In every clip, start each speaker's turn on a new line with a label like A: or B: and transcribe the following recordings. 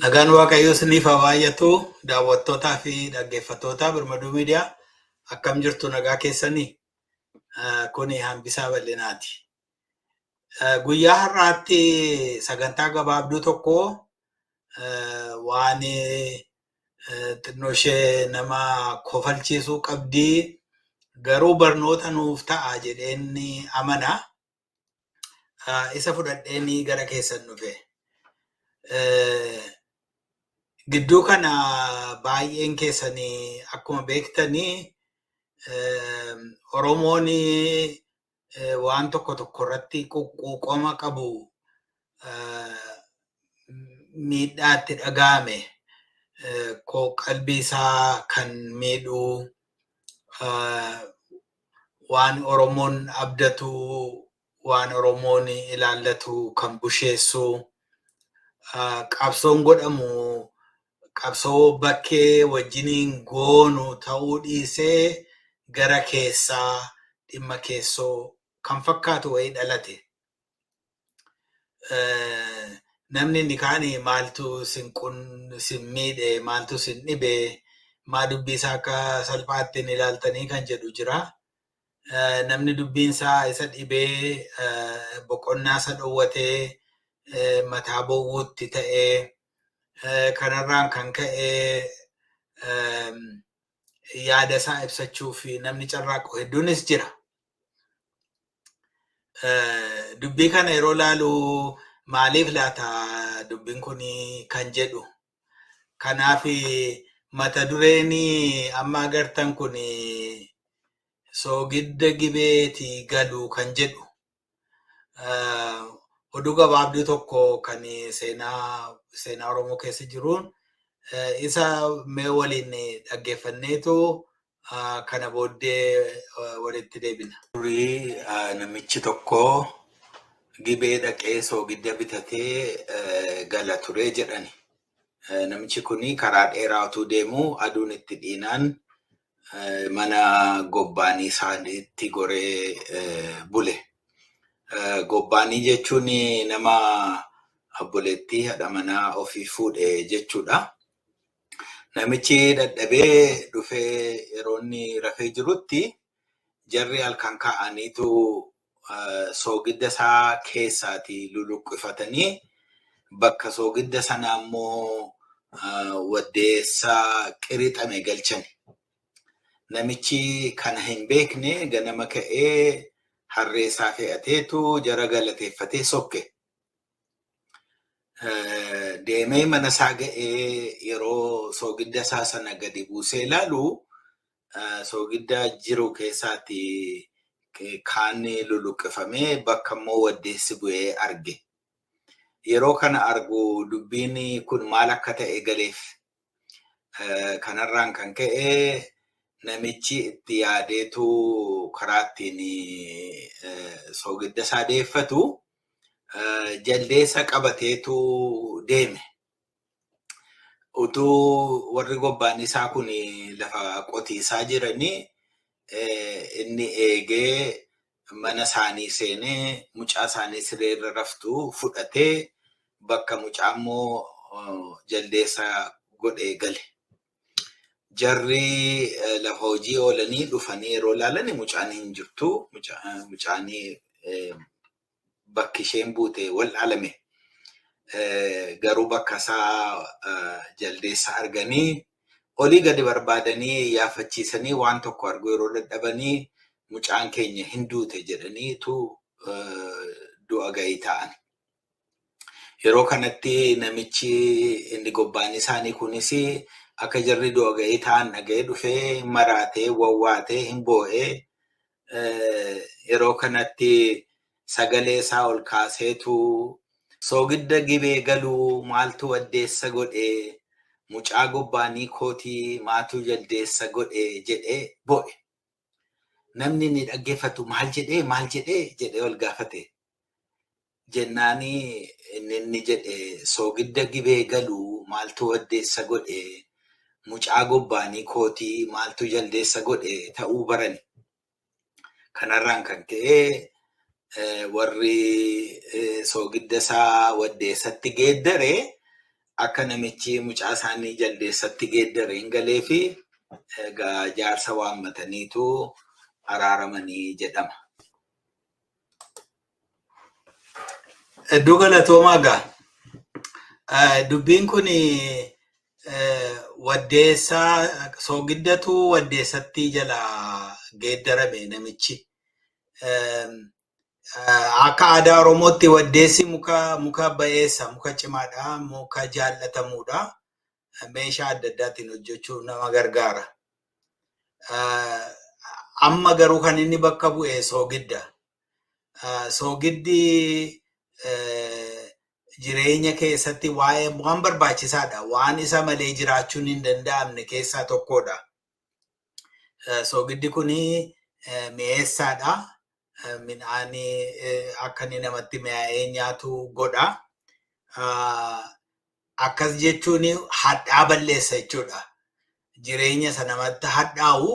A: Nagaan Waaqayyoo isiniif haa baay'atu daawwattootaa fi dhaggeeffattootaa Birmaduu Miidiyaa akkam jirtu nagaa keessanii Ah, kuni hambisaa bal'inaati. Ah, Guyyaa har'aatti sagantaa gabaabduu tokko ah, waan eh, xinnoo ishee nama kofalchiisuu qabdi garuu barnoota nuuf ta'a jedheen amana. isa fudhadhee ni gara keessan dhufe. Gidduu kana baay'een keessanii akkuma beektanii Oromoon waan tokko tokko irratti quuqama qabu miidhaa itti dhaga'ame koo qalbii isaa kan miidhuu waan Oromoon abdatu waan Oromoon ilaallatu kan busheessu qabsoon godhamu qabsoo bakkee wajjiniin goonu ta'uu dhiisee gara keessaa dhimma keessoo kan fakkaatu wayii dhalate. namni inni kaan maaltu sin qun sin miidhe maaltu sin dhibe maa dubbii isaa akka salphaatti hin ilaaltanii kan jedhu jira. Namni dubbiin isaa isa dhibee boqonnaa isa dhowwatee mataa bowwuutti ta'ee kanarraan kan ka'e yaada isaa ibsachuuf namni carraaqu hedduunis jira. Eh, dubbii kana yeroo laalu maaliif laata dubbiin kun kan jedhu kanaaf mata dureen amma agartan kun soogidda gibeeti galu kan jedhu eh, oduu gabaabduu tokko kan seenaa seenaa oromoo keessa jiruun eh, isa mee waliin dhaggeeffanneetu kana booddee walitti deebina. Durii namichi tokko gibee dhaqee soogidda bitatee gala ture jedhani. Namichi kun karaa dheeraa utuu deemuu aduun itti dhiinaan mana gobbaanii isaaniitti goree bule. Gobbaanii jechuun nama obboleettii haadha manaa ofii fuudhe jechuudha. Namichi dadhabee dhufee yeroo inni rafee jirutti jarri halkan kaa'aniitu soogidda isaa keessaati luluqqifatanii bakka soogidda sanaa immoo waddeessa qirixame galchani. Namichi kana hin beekne ganama ka'ee harree isaa fe'ateetu jara galateeffatee sokke. deemee mana isaa ga'ee yeroo soogidda isaa sana gadi buusee ilaalu soogidda jiru keessaatti kaan luluqqifamee bakka immoo waddeessi bu'ee arge. Yeroo kana argu dubbiin kun maal akka ta'e galeef. Kanarraan kan ka'e namichi itti yaadeetu karaa ittiin soogidda isaa deeffatu jaldeessa qabateetu deeme. Utuu warri gobbaan isaa kun lafa qotiisaa jiranii inni eegee mana isaanii seenee mucaa isaanii siree irra raftu fudhatee bakka mucaa immoo jaldeessa godhee gale. Jarri lafa hojii oolanii dhufanii yeroo ilaalan mucaan hin jirtu. Mucaan bakki isheen buute wal'aalame. Garuu bakka isaa jaldeessa arganii olii gadi barbaadanii yaafachiisanii waan tokko arguu yeroo dadhabanii mucaan keenya hin duute jedhaniitu du'a gahii ta'an. Yeroo kanatti namichi inni gobbaan isaanii kunis akka jarri du'a ga'ee ta'an dhaga'ee dhufee maraatee wawwaatee hin boo'ee yeroo kanatti sagalee isaa ol kaaseetu soogidda gibee galuu maaltu addeessa godhe mucaa gobbaanii kootii maatuu jaldeessa godhe jedhee boo'e. namni inni dhaggeeffatu maal jedhee maal jedhee jedhee wal gaafate. Jennaani inni inni jedhe soogidda gibee galu maaltu waddeessa godhe mucaa gobbaanii kootii maaltu jaldeessa godhe ta'uu barani. Kanarraan kan ka'e warri soogidda isaa waddeessatti geeddare akka namichi mucaa isaanii jaldeessatti geeddare hin galeefi egaa jaarsa waammataniitu araaramanii jedhama. Hedduu galatoomaa gaa. Eh, Dubbiin kun waddeessaa soogiddatu waddeessatti jala geeddarame namichi. Eh, Akka aadaa Oromootti waddeessi muka muka ba'eessa muka cimaadha muka jaallatamuudha meeshaa adda addaatiin hojjechuu nama gargaara. Amma garuu kan inni bakka bu'e soogidda. Soogiddi jireenya keessatti waa'ee waan barbaachisaadha waan isa malee jiraachuun hin danda'amne keessaa tokkodha. Soogiddi kun mi'eessaadha. Midhaan akka inni namatti mi'aa'ee nyaatu godha. Akkas jechuun hadhaa balleessa jechuudha. Jireenya isa namatti hadhaa'u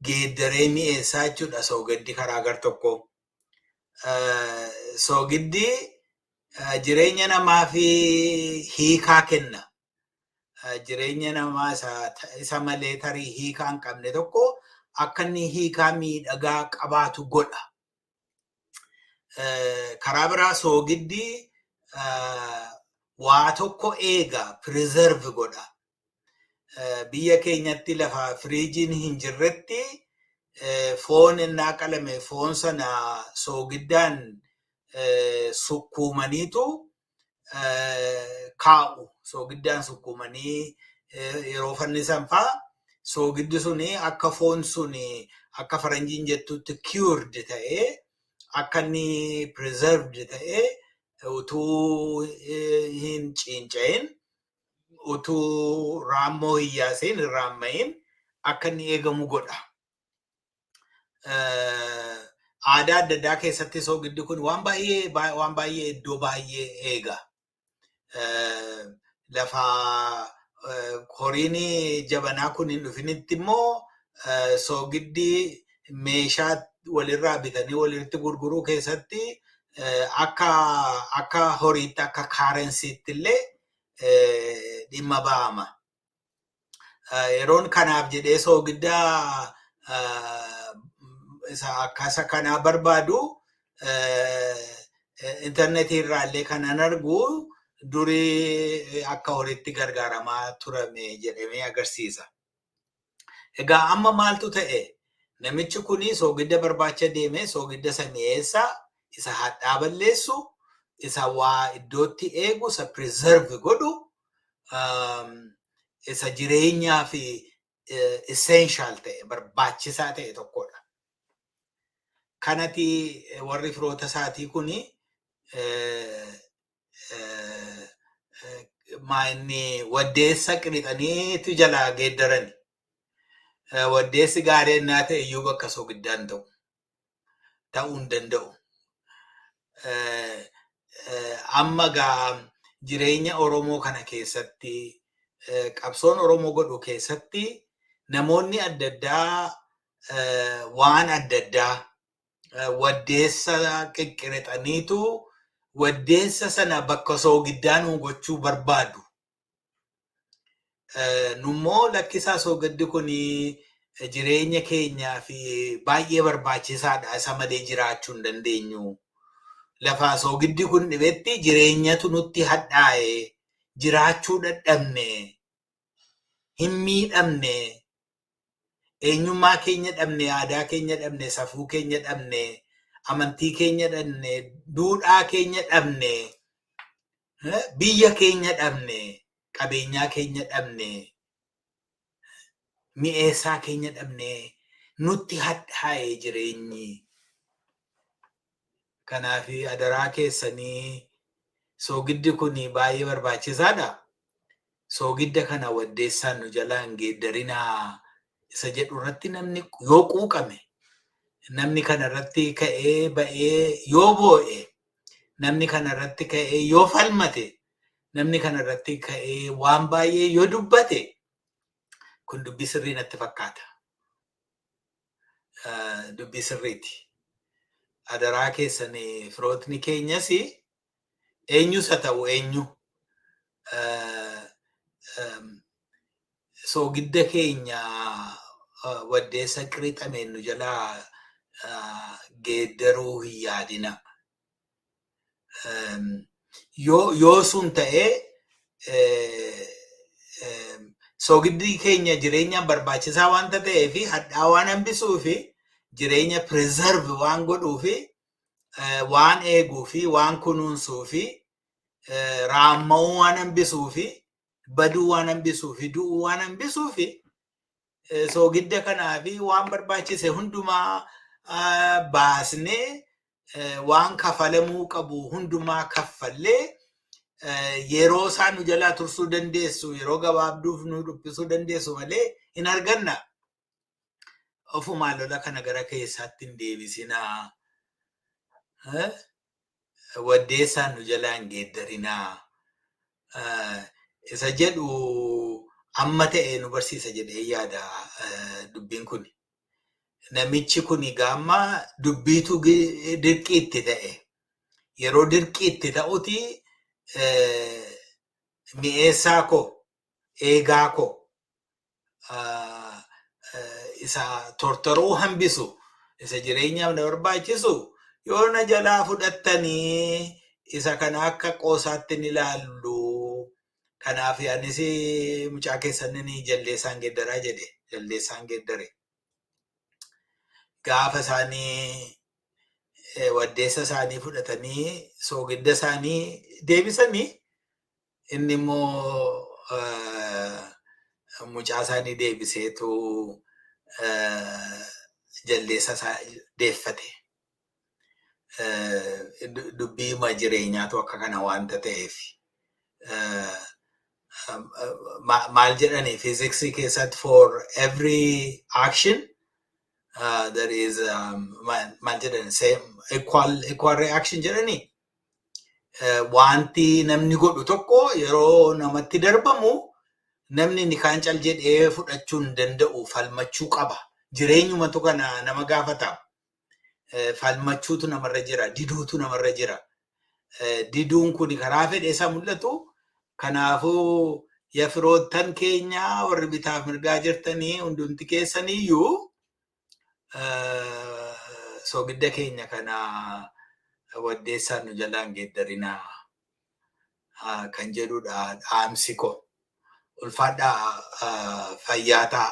A: geeddaree mi'eessaa jechuudha soogiddi karaa gar tokko. Soogiddi jireenya namaaf hiikaa kenna. jireenya namaa isa malee tarii hiikaa hin qabne tokko akka inni hiikaa miidhagaa qabaatu godha. Karaa biraa soogiddi waa tokko eega, preserve godha. Biyya keenyatti lafa firiijiin hin jirretti foon innaa qalame foon sana soogiddaan sukkuumaniitu kaa'u soogiddaan sukkuumanii yeroo fannisan faa soogiddi sun akka foon sun akka faranjiin jettutti cured ta'ee akka inni preserved ta'ee utuu hin ciinca'in utuu raammoo hin yaasin hin raamma'in akka inni eegamu godha. aadaa adda addaa keessatti soogiddi kun waan baay'ee waan baay'ee iddoo baay'ee eega. Lafa horiin jabanaa kun hin dhufinitti immoo soogiddi meeshaa walirraa bitanii walitti gurguruu keessatti akka akka horiitti akka kaarensiitti illee dhimma ba'ama. yeroon kanaaf jedhee soogiddaa isa akkasa kanaa barbaadu intarneetii irraa illee kanan argu durii akka horiitti gargaaramaa turame jedhamee agarsiisa. Egaa amma maaltu ta'e? Namichi kun soogidda barbaacha deeme, soogidda isa mi'eessa, isa hadhaa balleessu, isa waa iddootti eegu, isa preserve godhu, um, isa jireenyaa fi eh, essential ta'e, barbaachisaa ta'e tokkodha. Kanati eh, warri firoota isaatii kun eh, maayinni waddeessa qirixaniitu jalaa geeddarani. Waddeessi gaarii ennaa ta'e iyyuu bakka sogiddaan ta'u ta'uu hin danda'u. Amma gaa jireenya Oromoo kana keessatti qabsoon Oromoo godhu keessatti namoonni adda addaa waan adda addaa eh, waddeessa qiqqirixaniitu waddeessa sana bakka soogiddaa nu gochuu barbaadu. Eh, Nummoo lakkisaa soogiddi kun jireenya keenyaa fi baay'ee barbaachisaadha isa malee jiraachuu hin dandeenyu. Lafaa soogiddi kun dhibetti jireenyatu nutti hadhaa'e jiraachuu dadhabne hin miidhamne Eenyummaa keenya dhabne, aadaa keenya dhabne, safuu keenya dhabne, amantii keenya dhabne, duudhaa keenya dhabne, eh, biyya keenya dhabne, qabeenyaa keenya dhabne, mi'eessaa keenya dhabne, nutti hadhaa'e jireenyi. Kanaaf adaraa keessanii soogiddi kun baay'ee barbaachisaadha. Soogidda kana waddeessaan nu jalaa hin geeddarinaa isa jedhu irratti namni yoo quuqame namni kana irratti ka'ee ba'ee yoo boo'e namni kana irratti ka'ee yoo falmate namni kana irratti ka'ee waan baay'ee yoo dubbate kun dubbii sirrii natti fakkaata. eh, dubbii sirriiti. Adaraa keessan eh, firootni keenyas eenyus haa ta'u eenyu eh, em, soogidda keenya eh, waddeessa qirixameen nu jalaa eh, geeddaruu hin yaadina. Yoo sun ta'ee soogiddi keenya jireenyaaf barbaachisaa waan ta'eef hadhaa waan hambisuu fi jireenya preserve waan godhuu fi waan eeguu fi waan kunuunsuu fi raamma'uu waan hambisuu fi baduu waan hambisuu fi du'uu waan hambisuu fi soogidda kanaa fi waan barbaachise hundumaa baasnee waan kafalamuu qabu hundumaa kaffallee yeroo isaa nu jalaa tursuu dandeessu yeroo gabaabduuf nu dhuphisuu dandeessu malee hin arganna. Ofumaa lola kana gara keessaatti hin deebisinaa. Waddeessaan nu jalaa hin geeddarinaa. Isa jedhu amma ta'e nu barsiisa jedhee yaada dubbiin kun. namichi kun gaamma dubbiitu dirqii itti ta'e. Yeroo dirqii itti ta'uti mi'eessaa koo eegaa koo isa tortoruu hambisu isa jireenyaaf na barbaachisu yoo na jalaa fudhattanii isa kana akka qoosaatti ni laallu Kanaaf anis mucaa keessan jaldeessaan geeddaraa jedhe jaldeessaan geeddare. Gaafa isaanii waddeessa isaanii fudhatanii soogidda isaanii deebisanii inni immoo mucaa isaanii deebiseetu jaldeessa isaa deeffate. dubbii hima jireenyaatu akka kana wanta ta'eef maal jedhanii fiiziksii keessatti for every action uh, there is um, maal jedhani same equal equal reaction jedhanii uh, wanti namni godhu tokko yeroo namatti darbamu namni inni kaan cal jedhee fudhachuu hin danda'u falmachuu qaba jireenyumatu kana nama gaafata falmachuutu namarra jira diduutu namarra jira diduun kun karaa fedhe isa mul'atu kanaafuu ya firoottan keenya warri bitaaf mirgaa jirtanii hundumti keessaniyyuu soogidda keenya kana waddeessaan nu jalaan geeddarinaa kan jedhudha dhaamsi koo ulfaadhaa fayyaa ta'a.